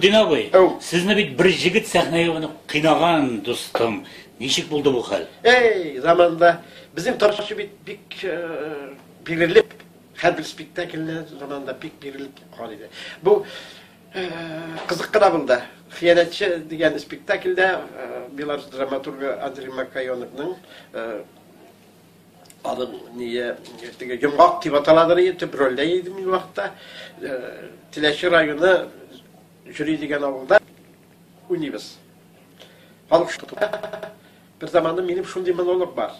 Дин абый, Әу. сезне бит бер җегет сәхнәгә менеп кыйнаган, дустым. Ничек булды бу хәл? Эй, заманда безнең тормышы бит бик э, бирелеп, хәзер спектакльләр заманда бик бирелеп калган иде. Бу э, кызык кына булды. Хыянәтче дигән спектакльдә э, Беларусь драматургы Андрей Макайоновның э, Аның ние теге йомгак дип аталадыр иде, төп рольдә иде мин вакытта. Теләче районы Җүри дигән авылда уйныйбыз. Халык шутка. Бер заманда минем шундый монолог бар.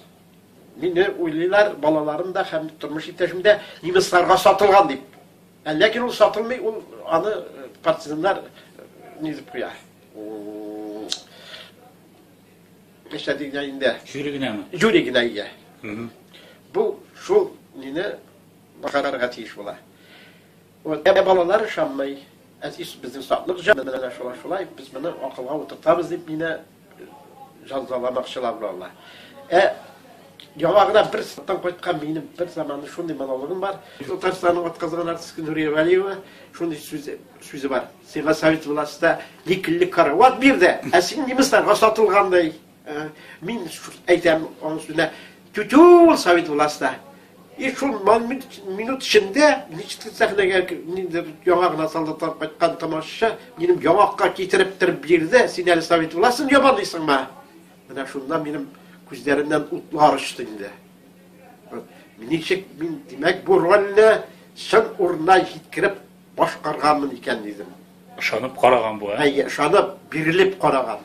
Мине уйлыйлар, балаларым да һәм тормыш иптәшем дә немецларга сатылган дип. Ә ләкин ул сатылмый, ул аны партизаннар низеп куя. Эшләде генә инде. Жюри генәме? Жюри генә ия. Бу шул мине бакарарга тиеш була. Вот ә балалар ышанмый. Әтис безнең саклык җан менә шулай шулай без моны акылга утыртабыз дип мине җазаламакчылар булалар. Ә яңа гына бер саттан кайткан минем бер заманы шундый монологым бар. Татарстанның атказанган артисты Нурия Валиева шундый сүз Сүзе бар. Сиңа совет властьта никелле карават бирде, ә син немецларга сатылгандай. Э, мин әйтәм аның сүзенә, тютю ул совет властьта. И шул минут эчендә ничек сәхнәгә ниндер яңа гына солдатлар кайткан тамашачы минем яңакка китереп тер бирде, син әле совет властен ябалыйсыңмы? Менә шунда минем күзләреннән утлар очты инде. Ничек мин, димәк, бу рольне чын урынына җиткереп Башкарганмын икән, дидем. Ышанып караган бу, ә? Әйе, ышанып, бирелеп караган.